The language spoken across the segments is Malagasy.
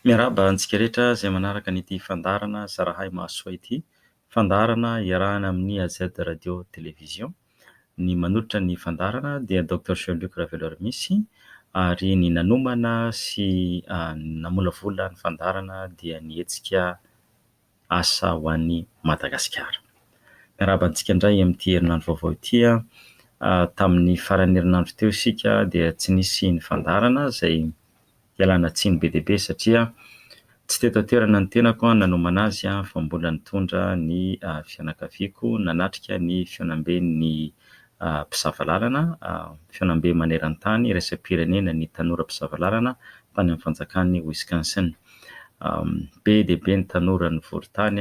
Miarahaba antsika rehetra izay manaraka an'ity fandaharana Zarahay Mahasoa ity. Fandaharana iarahana amin'ny AZ Radio Télévision. Ny manolotra ny fandaharana dia Docteur Jean Luc Raveloarimisy ary ny nanomana sy namolavola ny fandaharana dia ny hetsika... asa ho an'i Madagasikara. Miarahaba antsika indray amin'ity herinandro vaovao ity. Tamin'ny faran'ny herinandro teo isika dia tsy nisy ny fandaharana izay ialana tsiny be dia be satria tsy teto an-toerana ny tenako nanomana azy fa mbola nitondra ny fianakaviako nanatrika ny fihaonamben'ny mpisava lalana, fihaonambe maneran-tany iraisam-pirenena ny tanora mpisava lalana tany amin'ny fanjakan'i Wisconsin. Be dia be ny tanora nivory tany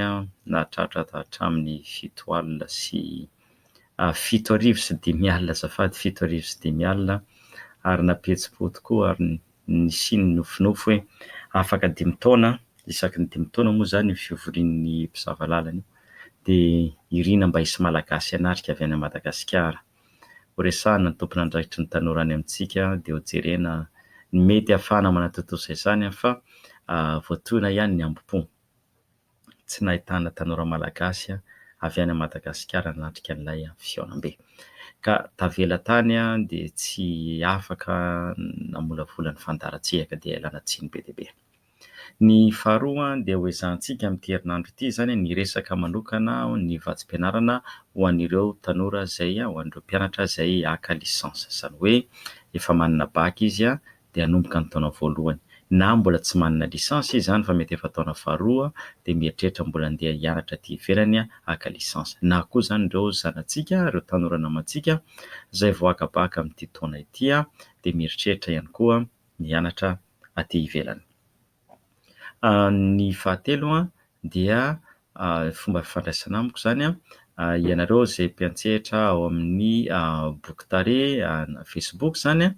nahatratra hatramin'ny fito alina sy fito arivo sy dimy alina azafady, fito arivo sy dimy alina ary nampihetsi-po tokoa ary nisian'ny nofinofy hoe afaka dimy taona, isaky ny dimy taona moa izany io fivorian'ny mpisava lalana io dia irina mba hisy Malagasy hanatrika avy any Madagasikara. Ho resahina ny tompon'andraikitry ny tanora any amintsika dia ho jerena ny mety hahafahana manatontosa izany fa voatohina ihany ny hambom-po tsy nahitana tanora malagasy avy any Madagasikara nanatrika an'ilay fihaonambe ka tavela tany dia tsy afaka namolavola ny fandaharan-tsehaka dia ilana tsiny be dia be. Ny faharoa dia ho ezahantsika amin'ity herinandro ity izany ny hiresaka manokana ny vatsim-pianarana ho an'ireo tanora izay, ho an'ireo mpianatra izay haka licence. Izany hoe efa manana bac izy dia hanomboka ny taona voalohany. Na mbola tsy manana licence izy izany fa mety efa taona faharoa dia mieritreritra mbola handeha hianatra aty ivelany haka licence. Na koa izany ireo zanatsika, ireo tanora namantsika izay vao haka bac amin'ity taona ity dia mieritreritra ihany koa ny hianatra aty ivelany. Ny fahatelo dia fomba fifandraisana amiko izany, ianareo izay mpiantsehatra ao amin'ny boky tarehy na facebook izany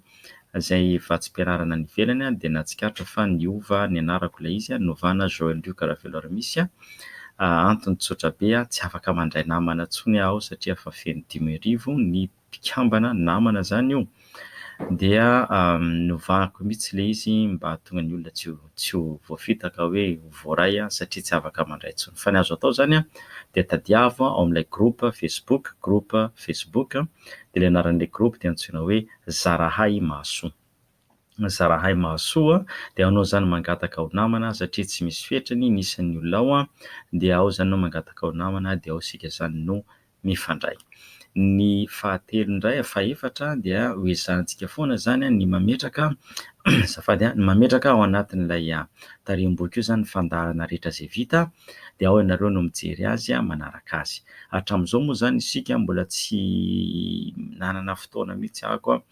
izay efa tsy mpianarana any ivelany dia nahatsikaritra fa niova ny anarako ilay izy, novana Joel Luc Raveloarimisy, antony tsotra be, tsy afaka mandray namana intsony aho satria efa feno dimy arivo ny mpikambana namana zany io dia novahako mihitsy le izy mba hahatonga ny olona tsy ho voafitaka hoe ho voaray satria tsy afaka mandray intsony. Fa ny azo atao zany an, dia tadiavo ao amin'ilay groupe facebook, groupe facebook, dia le anaran'ilay groupe dia antsoina hoe zarahay mahasoa, zarahay mahasoa dia anao zany mangataka ho namana satria tsy misy fetrany ny isan'ny olona ao dia ao zany anao mangataka ho namana dia ao isika zany no mifandray. Ny fahatelo indray, fahefatra dia ho ezahantsika foana izany ny mametraka azafady, ny mametraka ao anatin'ilay tarehi-boky io izany ny fandaharana rehetra izay vita dia ao ianareo no mijery azy manaraka azy. Hatramin'izao moa izany isika mbola tsy nanana fotoana mihitsy aho koa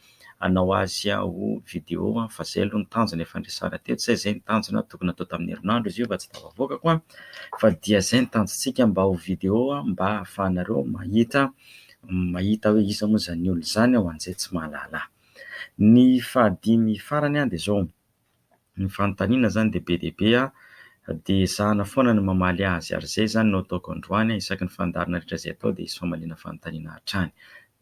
hanao azy ho video an, fa zay aloha ny tanjona efa niresahana teto zay, zay ny tanjona tokony hatao tamin'ny herinandro izy io fa tsy tafavoakako an, fa dia zay ny tanjontsika mba ho video mba hahafahanareo mahita mahita hoe iza moa zany olona zany an, ho an'izay tsy mahalala ahy. Ny fahadimy farany an dia zao, ny fanontaniana izany dia be dia be dia ezahina foana ny mamaly azy ary izay izany no ataoko androany, isaky ny fandaharana rehetra izay atao dia hisy famaliana fanontaniana hatrany.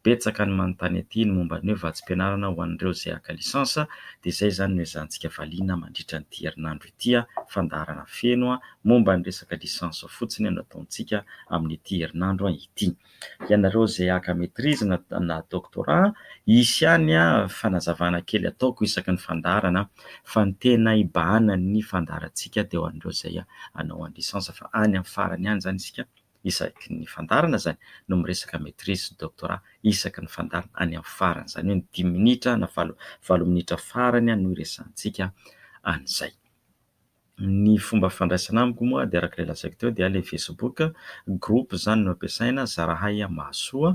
Betsaka ny manontany aty ny momba ny hoe vatsim-pianarana ho an'ireo izay haka licence dia izay izany no ezahantsika valiana mandritra an'ity herinandro ity, fandaharana feno momba ny resaka licence fotsiny no ataontsika amin'ity herinandro ity. ianareo izay haka maitrise na na doctorat hisy ihany fanazavana kely ataoko isaky ny fandaharana fa ny tena hibahana ny fandaharantsika dia ho an'ireo izay hanao an'ny licence fa any amin'ny farany any izany isika isaky ny fandaharana izany no miresaka maitrise sy doctorat isaky ny fandaharana any amin'ny farany izany hoe ny dimy minitra na valo valo minitra farany no hiresahantsika an'izay. Ny fomba fandraisana amiko moa dia araka ilay lazaiko teo dia ilay Facebook, groupe izany no ampiasaina, zarahay an, mahasoa,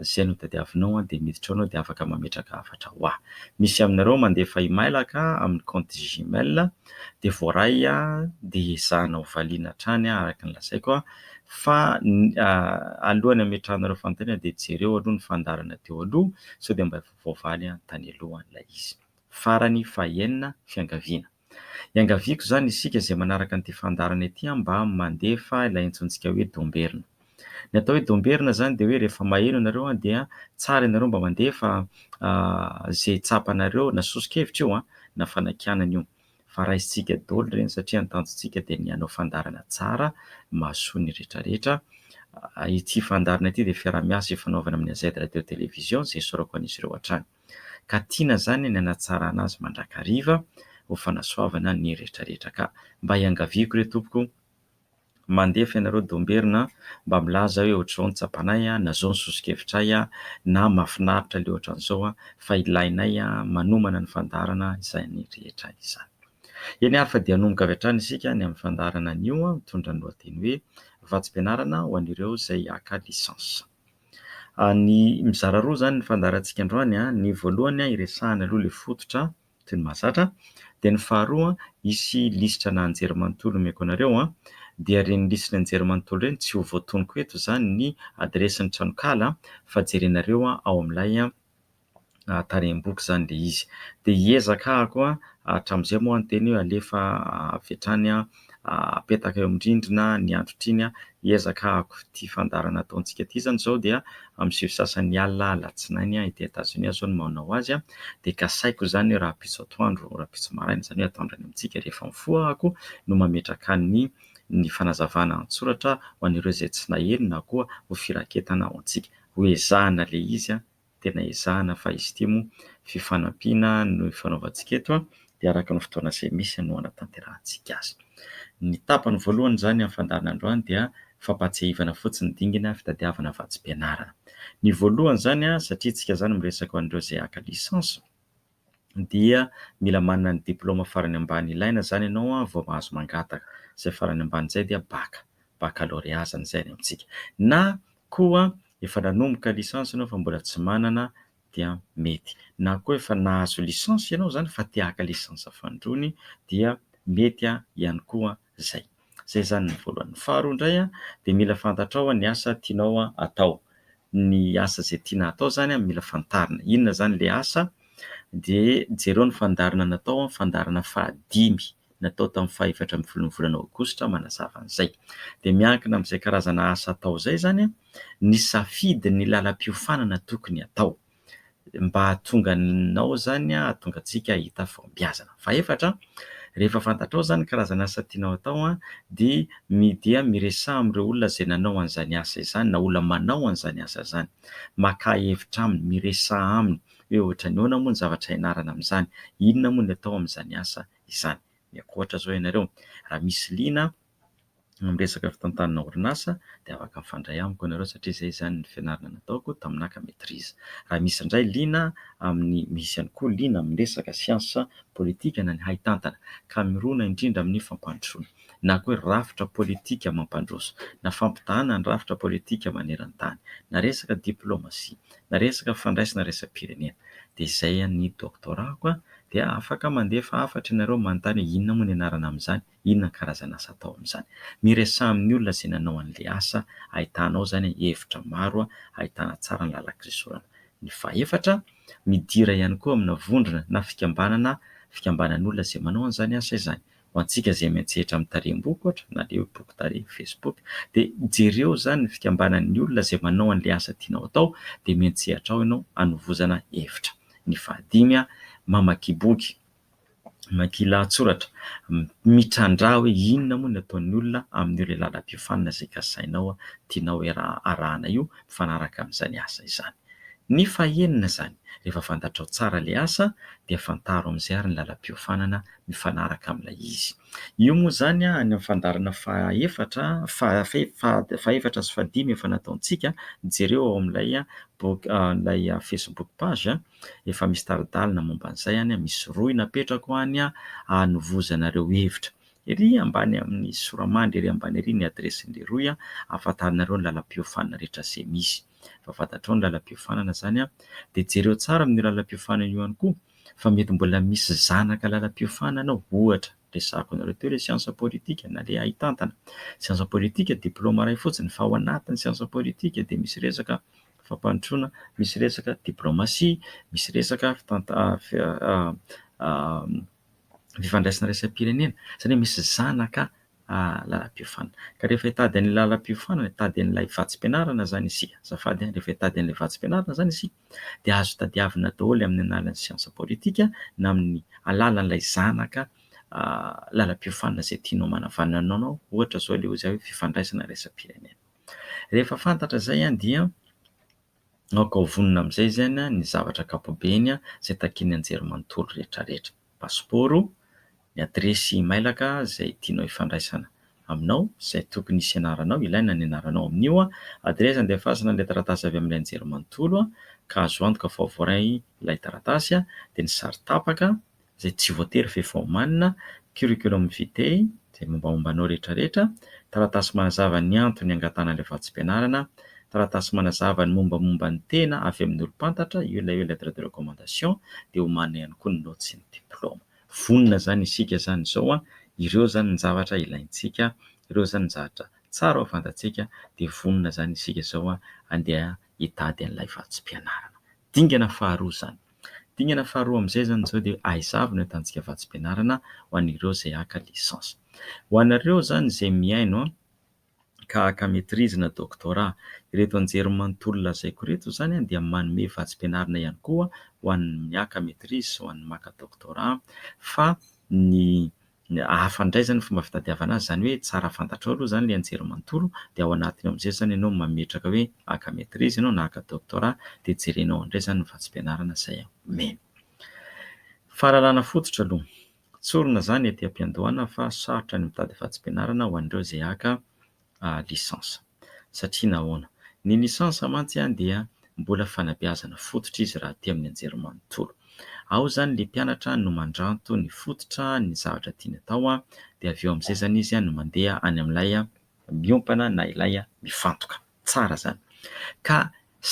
izay no tadiavinao an, dia miditra ao ianao dia afaka mametraka hafatra ho ahy. Misy aminareo mandefa email ka amin'ny compte gmail dia voaray dia ezahina ho valiana hatrany araka ny lazaiko an, fa alohan'ny hametrahanareo fanontaniana dia jereo aloha ny fandaharana teo aloha sao dia mba voavaly tany aloha ilay izy. Farany faha enina fiangaviana. Iangaviako izany isika izay manaraka an'ity fandaharana ity mba mandefa ilay antsointsika hoe Domberina. Ny atao hoe Domberina izany dia hoe rehefa maheno ianareo dia tsara ianareo mba mandefa izay tsapanareo na soso-kevitra io na fanakianana io fa raisintsika daholo ireny satria ny tanjontsika dia ny hanao fandaharana tsara mahasoa ny rehetrarehetra. Ity fandaharana ity dia fiaraha-miasa ifanaovana amin'ny AZ Radio Télévision izay isaorako an'izy ireo hatrany. Ka tiana zany ny hanatsarana azy mandrakariva ho fanasoavana ny retraretra ka mba iangaviako re tompoko mandefa ianareo Domberina mba milaza hoe ohatr'izao ny tsapanay na zao ny sosokevitray na mafinaritra le ohatran'izao fa ilainay manomana ny fandaharana izany rehetra izany. Eny ary fa dia hanomboka avy hatrany isika ny amin'ny fandaharana anio mitondra ny lohateny hoe Vatsim-pianarana ho an'ireo izay haka licence. Ny mizara roa izany ny fandaharantsika androany a, ny voalohany a iresahana aloha ilay fototra toy ny mahazatra, dia ny faharoa hisy lisitra ana anjerimanontolo omeko anareo a, dia ireny lisitry ny anjerimanontolo ireny tsy ho voatonoko eto izany ny adiresin'ny tranonkala fa jerenareo ao amin'ilay tarehimboko izany ilay izy. Dia hiezaka aho koa hatramin'izay moa ny teny hoe alefa avy hatrany apetaka eo amin'ny rindrina ny androtra iny, hiezaka hahako ity fandaharana ataontsika ity izany izao dia amin'ny sivy sy sasany alina alatsinainy ety Etazonia izao no manao azy dia kasaiko izany hoe rahampitso atoandro, rahampitso maraina izany hoe atoandro any amintsika rehefa mifoha aho koa no mametraka ny ny fanazavana an-tsoratra ho an'ireo izay tsy naheno na koa ho firaketana ho antsika. Ho ezahina le izy a, tena ezahina fa izy ity moa fifanampiana no ifanaovantsika eto a, dia araka ny fotoana izay misy no hanatanterahantsika azy. Ny tapany voalohany izany amin'ny fandaharana androany dia fampahatsiahivana fotsiny dingina fitadiavana vatsim-pianarana. Ny voalohany izany a, satria isika izany miresaka ho an'ireo izay haka licence, dia mila manana ny diplaoma farany ambany ilaina izany ianao vao mahazo mangataka. Izay farany ambany izay dia bac, baccalauréat izany izay any amintsika. Na koa efa nanomboka licence ianao fa mbola tsy manana dia mety. Na koa efa nahazo licence ianao izany fa te haka licence fahandroany dia mety ihany koa izay. Izay izany ny voalohany. Faharoa indray dia mila fantatrao ny asa tianao atao. Ny asa izay tiana atao izany mila fantarina. Inona izany ilay asa? Dia jereo ny fandaharana natao, fandaharana fahadimy natao tamin'ny fahefatra ambin'ny folon'ny volana aogositra manazava an'izay. Dia miankina amin'izay karazana asa atao izay izany ny safidy ny lalam-piofanana tokony atao. mba hahatonga anao izany hahatonga antsika hahita fahombiazana. Fahefatra, rehefa fantatrao izany ny karazana asa tianao hatao dia dia miresaha amin'ireo olona izay nanao an'izany asa izany na olona manao an'izany asa izany. Makà hevitra aminy, miresaha aminy hoe ohatra ny ahoana moa ny zavatra ianarana amin'izany, inona moa ny atao amin'izany asa izany. Miankoatra izao ianareo, raha misy liana amin'ny resaka fitantanana orinasa dia afaka mifandray amiko ianareo satria izay izany ny fianarana nataoko taminaka maîtrise. Raha misy indray liana amin'ny, misy ihany koa liana amin'ny resaka siansa politika na ny haitantana ka mirona indrindra amin'ny fampandrosoana na koa hoe rafitra politika mampandroso na fampitahana ny rafitra politika maneran-tany na resaka diplomasia na resaka fandraisana iraisam-pirenena dia izay ny doctorat-ko dia afaka mandefa hafatra ianareo manontany hoe inona moa ny anarana amin'izany. Inona karazana asa atao amin'izany? Miresaha amin'ny olona izay nanao an'ilay asa ahitana ao izany hevitra maro ahitana tsara ny làlan-kisoratana. Ny fahefatra, midira ihany koa amina vondrona na fikambanana fikambanan'olona izay manao an'izany asa izany. Ho antsika izay miantsehatra amin'ny tarehim-boky ohatra na ilay hoe boky tarehy, Facebook, dia jereo izany ny fikambanan'ny olona izay manao an'ilay asa tianao atao dia miantsehatra ao ianao hanovozana hevitra. Ny fahadimy, mamaky boky. mankeny lahatsoratra mitrandraha hoe inona moa ny ataon'ny olona amin'io ilay lalam-piofanana izay kasainao tianao arahana io mifanaraka amin'izany asa izany. Ny fahenina izany, rehefa fantatrao tsara ilay asa dia fantaro amin'izay ary ny lalam-piofanana mifanaraka amin'ilay izy. Io moa izany any amin'ny fandaharana fahefatra fahefatra sy fahadimy efa nataontsika, jereo ao amin'ilay boky ilay facebook page. Efa misy tari-dalana momba an'izay any, misy rohy napetrako any hanovozana ireo hevitra. Ery ambany amin'ny sora-mandry ery ambany ery ny adiresin'ilay rohy hahafantaranareo ny lalam-piofanana rehetra izay misy. Efa fantatrao ny lalam-piofanana izany dia jereo tsara amin'io lalam-piofanana io ihany koa fa mety mbola misy zanaka lalam-piofanana ao, ohatra, resahako anareo teo ilay siansa politika na ilay haitantana. Siansa politika diplaoma iray fotsiny fa ao anatin'ny siansa politika dia misy resaka. fampandrosoana, misy resaka diplaomasia, misy resaka fifandraisana iraisam-pirenena, izany hoe misy zanaka lalam-piofanana. Ka rehefa hitady an'ilay lalam-piofanana, hitady an'ilay vatsim-pianarana izany isika, azafady a, rehefa hitady an'ilay vatsim-pianarana izany isika dia azo tadiavina daholo amin'ny alalan'ny siansa politika na amin'ny alalan'ilay zanaka lalam-piofanana izay tianao manavanana anao, ohatra izao ilay hoe fifandraisana iraisam-pirenena. Rehefa fantatra izay dia aoka ho vonona amin'izay izay ny zavatra ankapobeny izay takian'ny anjerimanontolo rehetrarehetra. Pasipaoro, ny adiresy mailaka izay tianao hifandraisana aminao, izay tokony hisy anaranao, ilaina ny anaranao amin'io. Adiresy andefasana ilay taratasy avy amin'ilay anjerimanontolo ka azo antoka fa ho voaray ilay taratasy dia ny sary tapaka. izay tsy voatery ve vao omanina, curriculum vitae, izay mombamomba anao rehetra rehetra, taratasy manazava ny antony hangatahana ilay vatsim-pianarana, taratasy manazava ny mombamomba ny tena avy amin'ny olom-pantatra, io ilay hoe lettre de recommandation, dia omanina ihany koa ny naoty sy ny diplaoma. Vonona izany isika izany izao an, ireo izany ny zavatra ilaintsika, ireo izany ny zavatra tsara ho fantatsika, dia vonona izany isika izao an, andeha hitady an'ilay vatsim-pianarana. Dingana faharoa izany. Dingana faharoa amin'izay izany izao dia ahaizavy no ahitantsika vatsim-pianarana ho an'ireo izay haka licence. Ho anareo izany izay mihaino ka haka maitrise na doctorat, ireto anjerimanontolo lazaiko ireto izany dia manome vatsim-pianarana ihany koa ho an'ny haka maitrise sy ho an'ny maka doctorat fa ny hafa indray izany ny fomba fitadiavana azy, izany hoe tsara fantatrao aloha izany ilay anjery manontolo dia ao anatiny ao amin'izay izany ianao no mametraka hoe haka maîtrise ianao na haka doctorat dia jerenao ao indray izany ny vatsim-pianarana izay omeny. Fahalalana fototra aloha. Tsorina izany ety am-piandohana fa sarotra ny mitady vatsim-pianarana ho an'ireo izay haka lisansa. Satria nahoana? Ny lisansa mantsy dia mbola fanabeazana fototra izy raha aty amin'ny anjerimanontolo. Ao izany ilay mpianatra no mandranto ny fototra ny zavatra tiany atao dia avy eo amin'izay izany izy no mandeha any amin'ilay miompana na ilay mifantoka. Tsara izany. Ka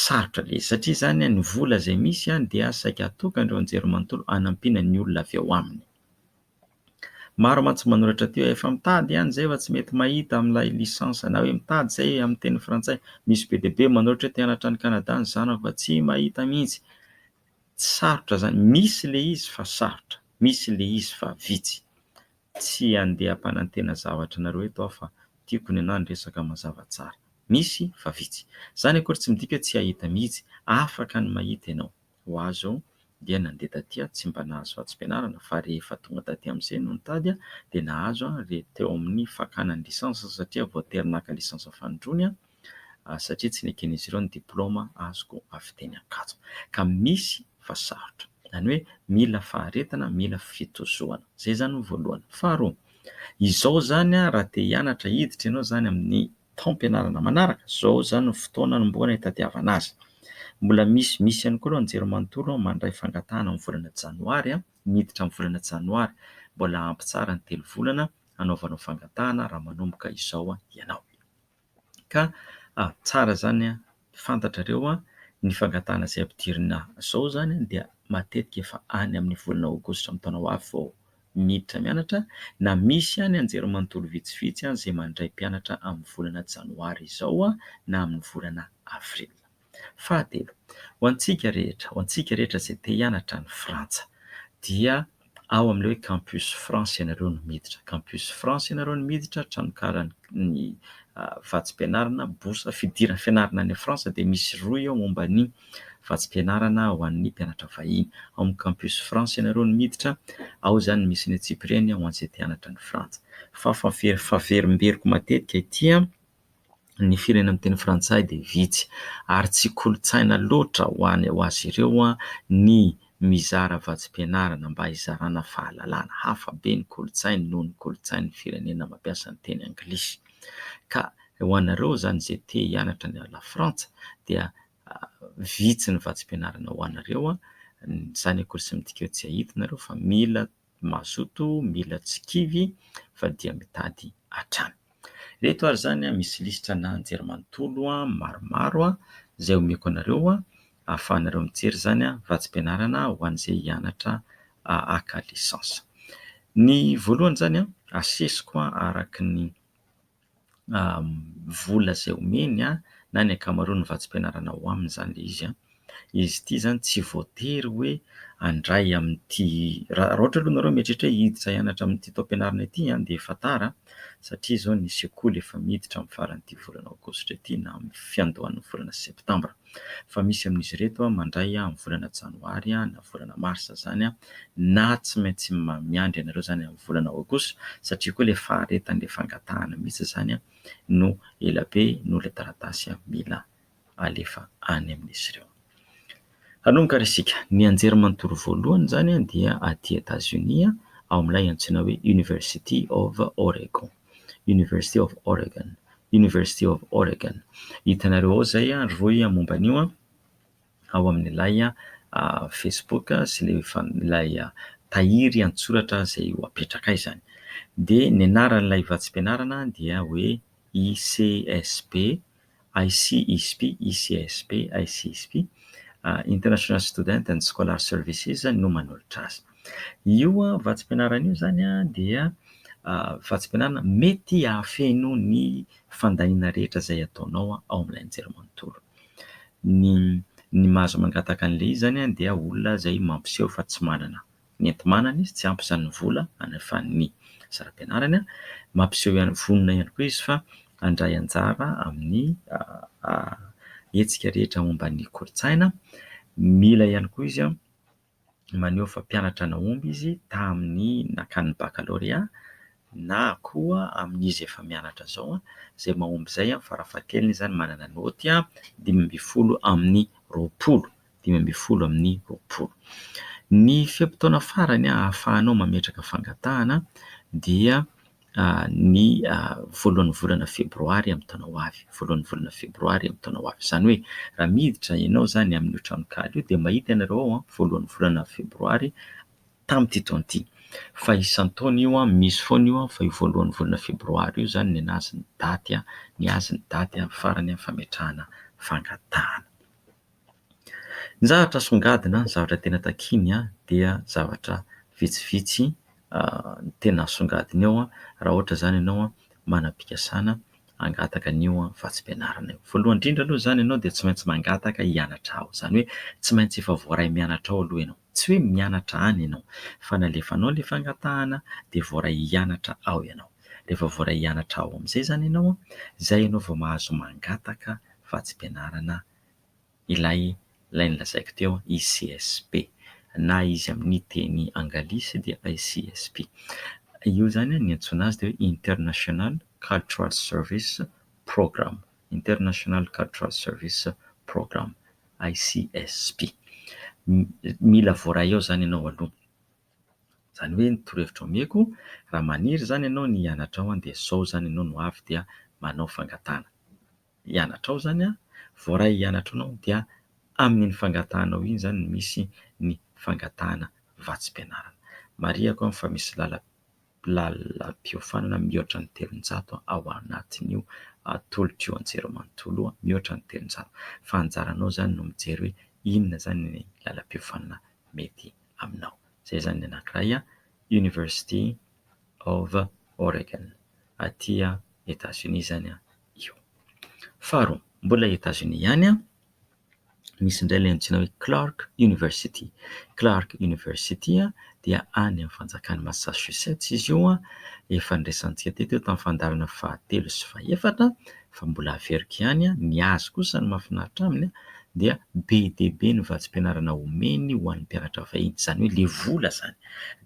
sarotra ilay izy. Satria izany ny vola izay misy dia saika atokan'ireo anjerimanontolo hanampiana ny olona avy ao aminy. Maro mantsy manoratra aty hoe efa mitady ihany izay fa tsy mety mahita amin'ilay licence na hoe mitady izay amin'ny teny frantsay. Misy be dia be manoratra hoe te hanatra any Canada ny zanako fa tsy mahita mihitsy. Tsy sarotra izany, misy ilay izy fa sarotra, misy ilay izy fa vitsy. Tsy handeha hampanantena zavatra anareo eto aho fa tiako ny anah ny resaka mazava tsara. Misy fa vitsy. Izany akory tsy midika hoe tsy hahita mihitsy, afaka ny mahita ianao. ho azy ao dia nandeha taty aho tsy mba nahazo vatsim-pianarana fa rehefa tonga taty amin'izay no nitady dia nahazo aho re teo amin'ny fakana ny licence satria voatery naka licence fanindroany aho satria tsy neken'izy ireo ny diploma azoko avy teny Ankatso ka misy fa sarotra izany hoe mila faharetana mila fitozoana izay izany no voalohany faharoa izao izany aho raha te hianatra hiditra ianao izany amin'ny taom-pianarana manaraka, izao izany no fotoana anombohana hitadiavana azy. Mbola misy misy ihany koa aloha ny jiro manontolo mandray fangatahana amin'ny volana janoary, miditra amin'ny volana janoary, mbola ampy tsara ny telo volana hanaovanao fangatahana raha manomboka izao ianao. Ka tsara izany fantatrareo ny fangatahana izay ampidirina izao izany dia matetika efa any amin'ny volana aogositra amin'ny taona ho avy vao miditra mianatra na misy ihany anjerimanontolo vitsivitsy izay mandray mpianatra amin'ny volana janoary izao na amin'ny volana avrily. Fahatelo, ho antsika rehetra, ho antsika rehetra izay te hianatra any Frantsa dia. ao amin'ilay hoe Campus France ianareo no miditra. Campus France ianareo no miditra, tranonkalan'ny vatsim-pianarana, bourse fidiran'ny fianarana any France dia misy rohy eo momba ny vatsim-pianarana ho an'ny mpianatra vahiny. Ao amin'ny Campus France ianareo no miditra, ao izany no misy ny antsipiriany ho an'izay te hanatra any Frantsa. Fahafahaverimberiko matetika ity an! ny firenena miteny frantsay dia vitsy ary tsy kolontsaina loatra ho any ho azy ireo ny mizara vatsim-pianarana mba hizarana fahalalana. Hafa be ny kolontsainy noho ny kolontsain'ny firenena mampiasa ny teny anglisy. Ka ho anareo izany izay te hianatra any Lafrantsa dia vitsy ny vatsim-pianarana ho anareo. Izany akory sy midika hoe tsy hahita ianareo fa mila mazoto mila tsy kivy fa dia mitady hatrany. Ireto ary izany a, misy lisitra ana anjerimanontolo maromaro izay omeko anareo ahafahanareo mijery izany vatsim-pianarana ho an'izay hianatra haka lisansa. Ny voalohany izany a, asesiko araka ny. vola izay omeny na ny ankamaroan'ny vatsim-pianarana ao aminy izany ilay izy. Izy ity izany tsy voatery hoe handray amin'ity, raha ohatra aloha ianareo mieritreritra hoe hiditra hianatra amin'ity taom-pianarana ity dia efa tara satria izao ny sekoly efa miditra amin'ny faran'ity volana aogositra ity na amin'ny fiandohan'ny volana septambra. fa misy amin'izy ireto mandray amin'ny volana janoary na volana marsa izany na tsy maintsy miandry anareo izany amin'ny volana aogositra satria koa ilay faharetan'ilay fangatahana mihitsy izany no ela be noho ilay taratasy mila alefa any amin'izy ireo. Hanomboka ary isika. Ny anjerimanontolo voalohany izany dia aty Etazonia ao amin'ilay antsoina hoe University of Oregon. University of Oregon, University of Oregon. Hitanareo ao izay ry rohy momba an'io ao amin'ilay facebook sy ilay fan- ilay tahiry an-tsoratra izay ho apetrakay izany. Dia ny anaran'ilay vatsim-pianarana dia hoe ICSP ICISP, ICSP, ICISP, International Student and Scholar Services, no manolotra azy. Io vatsim-pianarana io izany dia vatsim-pianarana mety hahafeno ny fandaniana rehetra izay ataonao ao amin'ilay nijery manontolo. Ny ny mahazo mangataka an'ilay izy izany dia olona izay mampiseho fa tsy manana nentin-manana izy, tsy ampy izany ny vola hanefany ny saram-pianarany. Mampiseho ihany, vonona ihany koa izy fa handray anjara amin'ny hetsika rehetra momba ny kolontsaina. Mila ihany koa izy maneho fa mpianatra nahomby izy tamin'ny nakany bakalorea na koa amin'izy efa mianatra izao izay mahomby izay, farafahakeliny izany manana naoty dimy ambin'ny folo amin'ny roapolo. dimy ambin'ny folo amin'ny roapolo. Ny fe-potoana farany ahafahanao mametraka fangatahana dia ny voalohan'ny volana febroary amin'ny taona ho avy, voalohan'ny volana febroary amin'ny taona ho avy. Izany hoe raha miditra ianao izany amin'io tranonkala io dia mahita ianareo ao voalohan'ny volana febroary tamin'ity taona ity. Fa isan-taona io, misy foana io fa io voalohan'ny volana febroary io izany ny azy ny daty, ny azy ny daty farany fametrahana fangatahana. Ny zavatra asongadina, ny zavatra tena takiany dia zavatra vitsivitsy ny tena asongadina eo raha ohatra izany ianao manam-pikasana hangataka an'io vatsim-pianarana io. Voalohany indrindra aloha izany ianao dia tsy maintsy mangataka hianatra ao, izany hoe tsy maintsy efa voaray mianatra ao aloha ianao, tsy hoe mianatra any ianao fa ny alefanao ilay fangatahana dia voaray hianatra ao ianao, rehefa voaray hianatra ao amin'izay izany ianao, izay ianao vao mahazo mangataka vatsim-pianarana ilay ilay nolazaiko teo ICSP na izy amin'ny teny anglisy dia ICSP. Io izany ny antsoina azy dia hoe International Cultural Service Programme, International Cultural Service Programme, ICSP. Mila voaray ao izany ianao aloha. Izany hoe ny torohevitra omeko, raha maniry izany ianao ny hianatra ao dia sao izany ianao no avy dia manao fangatahana. hianatrao zany a, voaray hianatra anao dia amin'iny fangatahanao iny zany no misy ny fangatahana vatsim-pianarana. Marihiko an fa misy lala- lalam-piofanana mihoatra ny telonjato ao anatin'io tolotr'io an-jereo manontolo io, mihoatra ny telonjato. Fa anjaranao zany no mijery hoe inona zany ny lalam-piofanana mety aminao. Zay zany ny anankiray a, University of Oregon, aty Etats-Unis zany a. io. Faharoa, mbola Etazonia ihany, misy indray ilay antsoina hoe Clark University. Clark University dia any amin'ny fanjakan'i Massachusetts izy io. Efa niresahantsika teto io tamin'ny fandaharana fahatelo sy fahefatra fa mbola averiko ihany. Ny azy kosa ny mahafinaritra aminy dia be dia be ny vatsim-pianarana omeny ho an'ny mpianatra vahiny, izany hoe ilay vola izany.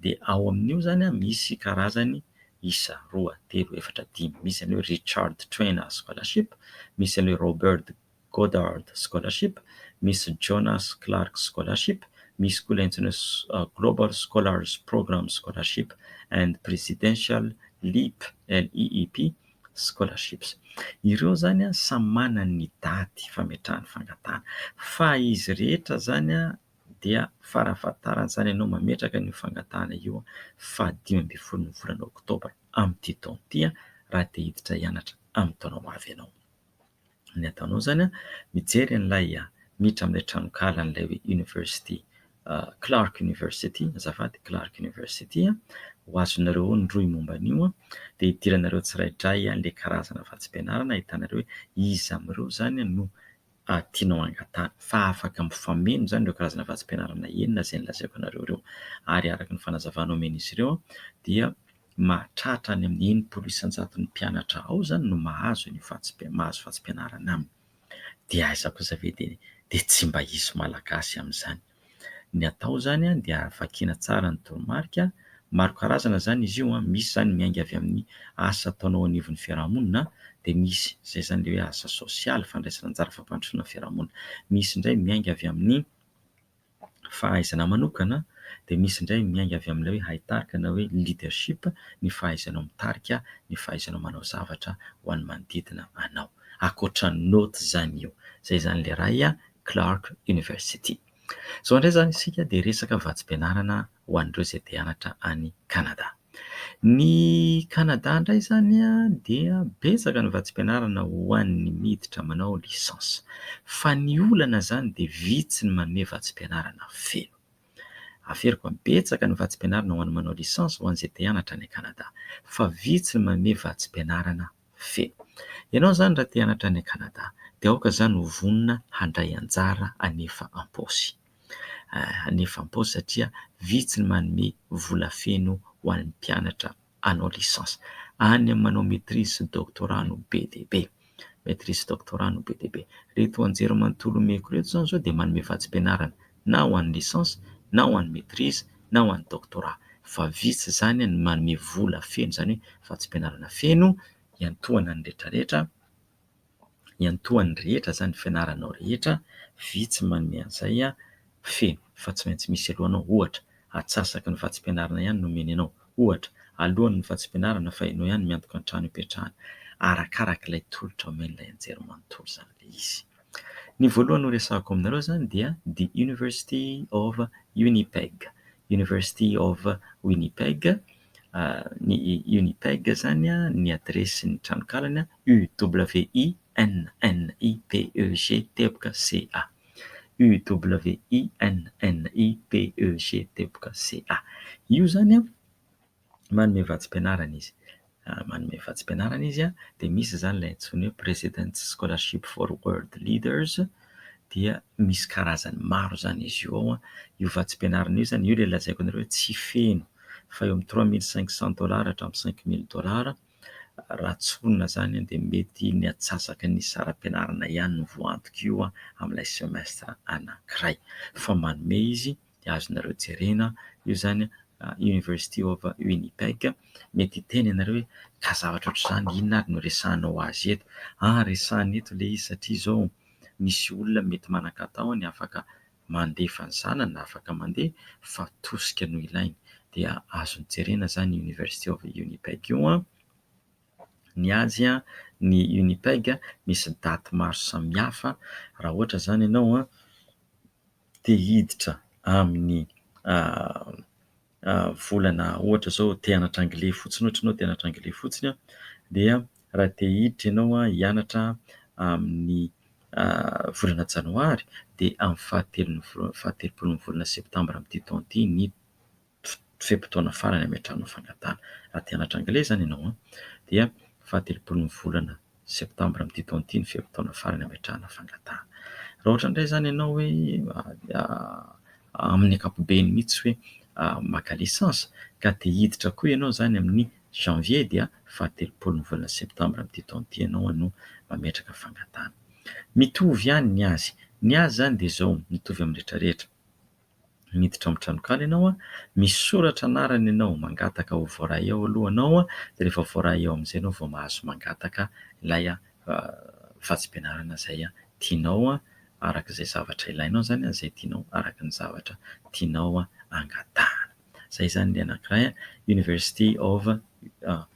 Dia ao amin'io izany misy karazany isa, roa, telo, efatra, dimy, misy an'ilay hoe Richard Trainor Scholarship, misy an'ilay Roberd Goddard Scholarship, misy Jonas Clark Scholarship, misy koa ilay antsoina hoe Global Scholars Program Scholarship and Presidential Leap, LEEP, Scholarships. Ireo izany samy manana ny daty fametrahany fangatahana fa izy rehetra izany dia fara-fahatarantsaina ianao mametraka an'io fangatahana io faha dimy ambin'ny folon'ny volana oktobra amin'ity taona ity raha te hiditra hianatra amin'ny taona ho avy ianao. Ny ataonao izany dia mijery an'ilay miditra amin'ilay tranonkala an'ilay hoe University Clark University, azafady, Clark University. Ho azonareo ao ny rohy momba an'io dia idiranareo tsiraidray ilay karazana vatsim-pianarana ahitana ireo hoe iza amin'ireo izany no... ary tianao hangatahana fa afaka mifameno izany ireo karazana vatsim-pianarana enina izay nolazaiko anareo ireo ary araka ny fanazavana omen'izy ireo dia mahatratra any amin'ny enimpolo isan-jaton'ny mpianatra ao izany no mahazo an'io vatsim-, mahazo vatsim-pianarana aminy. Dia aiza kosa ve dia dia tsy mba hisy Malagasy amin'izany. Ny atao izany dia vakiana tsara ny toromarika. Maro karazana izany izy io, misy izany miainga avy amin'ny asa ataonao eo anivon'ny fiarahamonina, dia misy izay izany ilay hoe asa sosialy, fandraisana anjara fampandrosoana ny fiarahamonina. Misy indray miainga avy amin'ny fahaizana manokana, dia misy indray miainga avy amin'ilay hoe haitarika na hoe leadership, ny fahaizanao mitarika, ny fahaizanao manao zavatra ho an'ny manodidina anao. Ankoatra ny naoty izany io. Izay izany ilay iray. Clark University. Izao indray izany isika dia resaka vatsim-pianarana ho an'ireo izay te hianatra any Canada. Ny Canada indray izany dia betsaka ny vatsim-pianarana ho an'ny miditra manao licence. Fa ny olana izany dia vitsy ny manome vatsim-pianarana feno. Averiko an, betsaka ny vatsim-pianarana ho an'ny manao licence ho an'izay te hianatra any Canada. Fa vitsy ny manome vatsim-pianarana Fe. Ianao izany raha te hianatra any Canada dia aoka izany ho vonona handray anjara hanefa am-paosy. Hanefa am-paosy satria vitsy ny manome vola feno ho an'ny mpianatra hanao licence. Any amin'ny manao maitrise sy doctorat no be dia be. Maitrise sy doctorat no be dia be. Ireto anjerimanontolo omeko ireto izao dia manome vatsim-pianarana. na ho an'ny licence, na ho an'ny maitrise, na ho an'ny doctorat. Fa vitsy izany ny manome vola feno izany hoe vatsim-pianarana feno hiantohana ny rehetrarehetra, hiantohan'ny rehetra izany ny fianaranao rehetra, vitsy ny manome an'izay feno. Fa tsy maintsy misy alohanao, ohatra, atsasaky ny vatsim-pianarana ihany no omeny anao, ohatra, alohan'ny vatsim-pianarana fa ianao ihany miantoka ny trano ipetrahana. Arakarak'ilay tolotra omen'ilay anjerimanontolo izany ilay izy. Ny voalohany horesahako aminareo izany dia The University of Winnipeg, University of Winnipeg, ny Winnipeg izany ny adiresin'ny tranonkalany UWINNIPEGTECHA, UWINNIPEGTECHA, io izany a. Manome vatsim-pianarana izy. Manome vatsim-pianarana izy dia misy izany ilay antsoina hoe President Scholarship for World Leaders dia misy karazany maro izany izy io ao. Io vatsim-pianarana io izany, io ilay lazaiko anareo hoe tsy feno fa eo amin'ny trois mille cinq cent dollars hatramin'ny cinq mille dollars. Raha tsorina izany dia mety ny atsasaka ny saram-pianarana ihany no voaantok'io amin'ilay semestra anankiray fa manome izy. dia azonareo jerena io izany University of Winnipeg. Mety hiteny ianareo hoe ka zavatra ohatr'izany inona ary no resahanao azy eto? Aa resahina eto ilay izy satria izao misy olona mety manan-katao any afaka mandefa ny zanany afaka mandeha fa tosika no ilainy dia azony jerena izany University of Winnipeg io. Ny azy ny Winnipeg misy daty maro samihafa raha ohatra izany ianao. te hiditra amin'ny volana ohatra izao te hianatra anglais fotsiny ohatra ianao te hianatra anglais fotsiny dia raha te hiditra ianao hianatra amin'ny volana janoary dia amin'ny fahatelon'ny faha telopolon'ny volana septambra amin'ity taona ity ny fe-potoana farany ametrahana fangatahana. Raha te hanatitra anglais izany ianao dia fahatelopolon'ny volana septambra amin'ity taona ity ny fe-potoana farany ametrahana fangatahana. Raha ohatra indray izany ianao hoe amin'ny ankapobeny mihitsy hoe maka licence ka te hiditra koa ianao izany amin'ny janvier dia fahatelopolon'ny volana septambra amin'ity taona ity ianao no mametraka fangatahana. Mitovy ihany ny azy. Ny azy izany dia izao, mitovy amin'ny rehetra rehetra. miditra ao amin'ny tranonkala ianao, misy soratra anarana ianao, mangataka ho voaray ao aloha ianao, dia rehefa voaray ao amin'izay ianao vao mahazo mangataka ilay vatsim-pianarana izay tianao araka izay zavatra ilainao izany, izay tianao araka ny zavatra tianao angatahana. Izay izany ny anankiray, University of.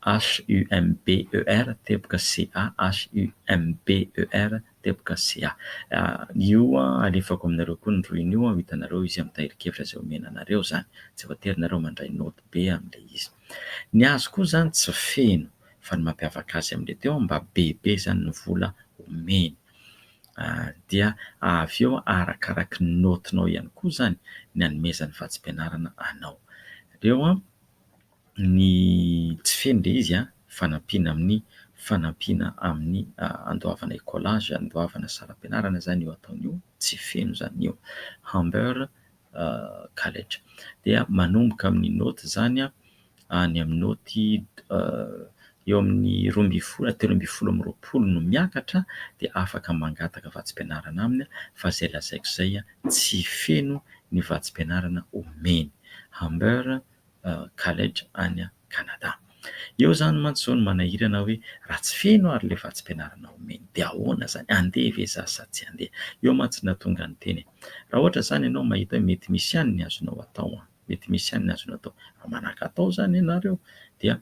HUMBER teboka CA, HUMBER teboka CA. Io alefako aminareo koa ny rohiny io, ho hitanareo izy amin'ny tahirin-kevitra izay omena anareo izany. Tsy voatery ianareo mandray naoty be amin'ilay izy. Ny azy koa izany tsy feno, fa ny mampiavaka azy amin'ilay teo mba bebe izany ny vola omeny. Dia avy eo arakaraky ny naotinao ihany koa izany ny hanomezany vatsim-pianarana anao. Aleo Ny tsy feno dia izy an, fanampiana amin'ny fanampiana amin'ny handoavana écolage, handoavana saram-pianarana izany io ataony io, tsy feno izany io. Humber College. Dia manomboka amin'ny naoty izany any amin'ny naoty eo amin'ny roa ambin'ny folo na telo ambin'ny folo amby roapolo no miakatra dia afaka mangataka vatsim-pianarana aminy fa izay lazaiko izay tsy feno ny vatsim-pianarana omeny. Humber College any Canada. Eo izany mantsy izao no manahirana hoe raha tsy feno ary ilay vatsim-pianarana omeny dia ahoana izany? Handeha ve za sa tsy handeha? Eo mantsy no nahatonga ny teny raha ohatra izany ianao mahita hoe mety misy ihany ny azonao atao, mety misy ihany ny azonao atao, raha manakatao izany ianareo dia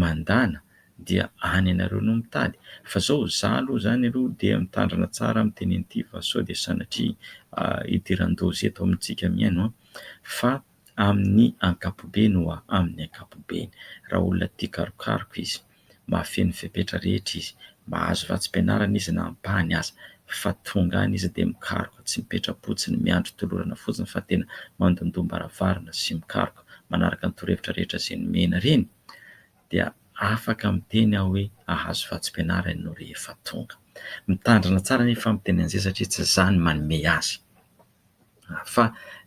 mandàna dia any ianareo no mitady fa izao za aloha izany aloha dia mitandrina tsara amin'ny tenen'ity fa sao dia sanatria hidiran-doza eto amintsika mihaino an! fa amin'ny ankapobeny wa amin'ny ankapobeny. Raha olona tia karokaroka izy, mahafehy ny fepetra rehetra izy, mahazo vatsim-pianarana izy na ampahany aza, fa tonga any izy dia mikaroka, tsy mipetra-po, tsy ny miandry tolorana fotsiny fa tena mandondoam-baravarana sy mikaroka manaraka ny torohevitra rehetra izay nomena ireny, dia afaka miteny aho hoe ahazo vatsim-pianarana ianao rehefa tonga. Mitandrina tsara anefa ny fitenenan'izay satria tsy za no manome azy. Fa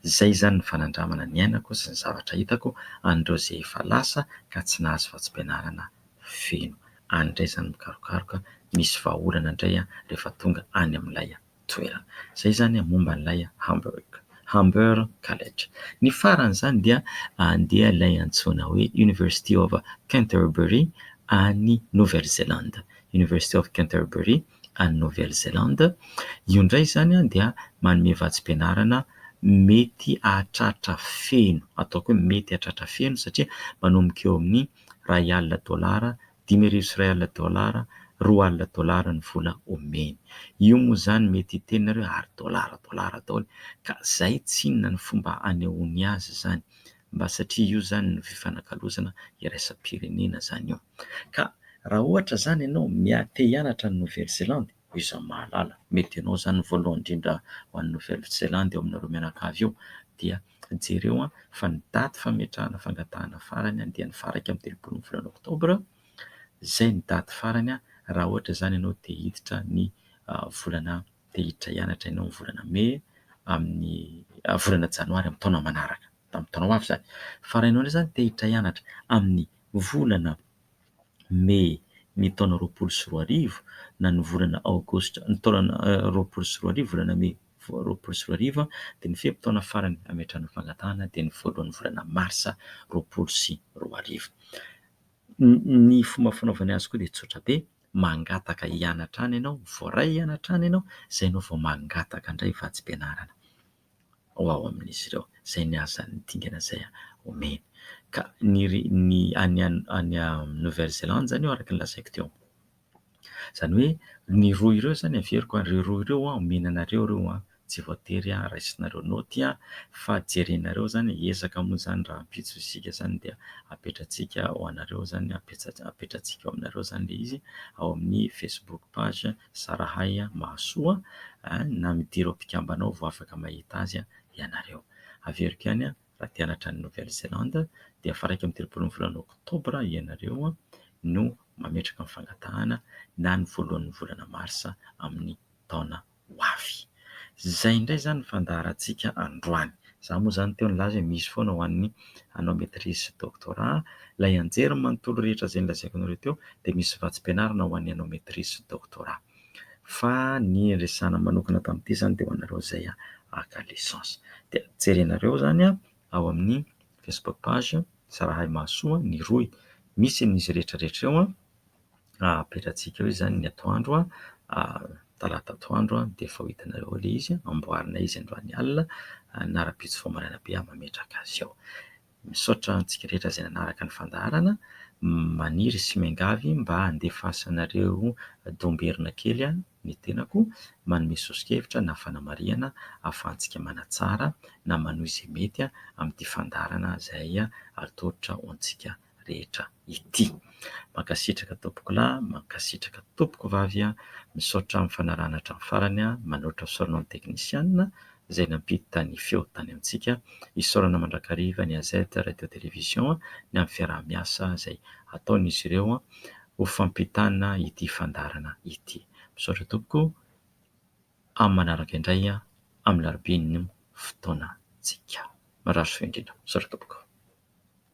izay izany ny fanandramana niainako sy ny zavatra hitako an'ireo izay efa lasa ka tsy nahazo vatsim-pianarana feno any indray izany mikarokaroka misy vahaolana indray rehefa tonga any amin'ilay toerana. Izay izany momba an'ilay Hamburg, Humber College. Ny faran'izany dia handeha ilay antsoina hoe University of Canterbury any Nouvelle-Zélande, University of Canterbury any Nouvelle Zélande. Io indray izany dia manome vatsim-pianarana mety hahatratra feno, ataoko hoe mety hahatratra feno satria manomboka eo amin'ny iray alina dolara, dimy arivo sy iray alina dolara, roa alina dolara ny vola omeny. Io moa izany mety hiteny nareo ary dolara dolara daholo ka izay tsy inona ny fomba anehoany azy izany mba satria io izany no fifanakalozana iraisam-pirenena izany io. Ka raha ohatra izany ianao miha te hianatra an'i Nouvelle Zélande, hoy izaho mahalala, mety ianao izany ny voalohany indrindra ho any Nouvelle Zélande eo aminareo mianakavy eo, dia jereo fa ny daty fametrahana fangatahana farany dia ny faha iraika amby telopolo ny volana oktobra, izay ny daty farany raha ohatra izany ianao te hiditra ny volana, te hiditra hianatra ianao ny volana mey amin'ny volana janoary amin'ny taona manaraka, tamin'ny taona ho avy izany. Fa raha ianao indray izany te hiditra hianatra amin'ny. Ny volana Mey ny taona roapolo sy roa arivo na ny volana Aogositra ny taona roapolo sy roa arivo, volana Mey roapolo sy roa arivo, dia ny fe-potoana farany hametrahana fangatahana dia ny voalohan'ny volana Marsa roapolo sy roa arivo. Ny fomba fanaovana azy koa dia tsotra be, mangataka hianatra any ianao, voaray hianatra any ianao, izay ianao vao mangataka indray vatsim-pianarana. ho ao amin'izy ireo, izay ny hasan'ny dingana izay omeny. Ka ny ny any any Nouvelle Zélande izany araka ny lazaiko teo, izany hoe ny roa ireo izany averiko ary ireo roa ireo omena anareo ireo a, tsy voatery raisinareo naoty a, fa jerenareo izany e, ezaka moa izany rahampitso isika izany dia apetrantsika ho anareo izany, apetratsika ho anareo izany ilay izy ao amin'ny Facebook page. Zarahay mahasoa na midira ireo mpikambana ao vao afaka mahita azy ianareo. Averiko ihany raha te hanatra an'i Nouvelle Zélande dia faha iraika amby telopolo ny volana oktobra ianareo no mametraka ny fangatahana na ny voalohan'ny volana marsa amin'ny taona ho avy. Izay indray izany ny fandaharantsika androany. Izaho moa izany teo nilaza hoe misy foana ho an'ny hanao maîtrise sy doctorat. Ilay hianjery ny manontolo rehetra izay nolazaiko anareo teo dia misy vatsim-pianarana ho an'ny hanao maîtrise sy doctorat. Fa ny resahana manokana tamin'ity izany dia ho anareo izay haka licence. Dia jerenareo izany ao amin'ny Facebook page Zarahay Mahasoa ny rohy. Misy an'izy rehetra rehetra eo. Apetratsika eo izany ny atoandro, talata atoandro dia efa ho hitanareo ao ilay izy. Amboarinay izy androany alina na rahampitso vao maraina be aho mametraka azy ao. Misaotra antsika rehetra izay nanaraka ny fandaharana. Maniry sy miangavy mba handefasanareo domberina kely ny tenako manome sosokevitra na fanamarihana ahafahantsika manatsara na manohy izay mety amin'ity fandaharana izay atolotra ho antsika rehetra ity. Mankasitraka tompoko lahy, mankasitraka tompoko vavy an! Misaotra amin'ny fanarahana hatramin'ny farany an! Manoatra fisaorana ho an'ny teknisiana izay nampiditra ny feo tany amintsika. Isaorana mandrakariva ny AZ Radio Télévision ny amin'ny fiaraha-miasa izay ataon'izy ireo ho fampitana ity fandaharana ity. Misaotra tompoko, amin'ny manaraka indray amin'ny alarobia ny fotoanantsika. Mirary soa indrindra. Misaotra tompoko.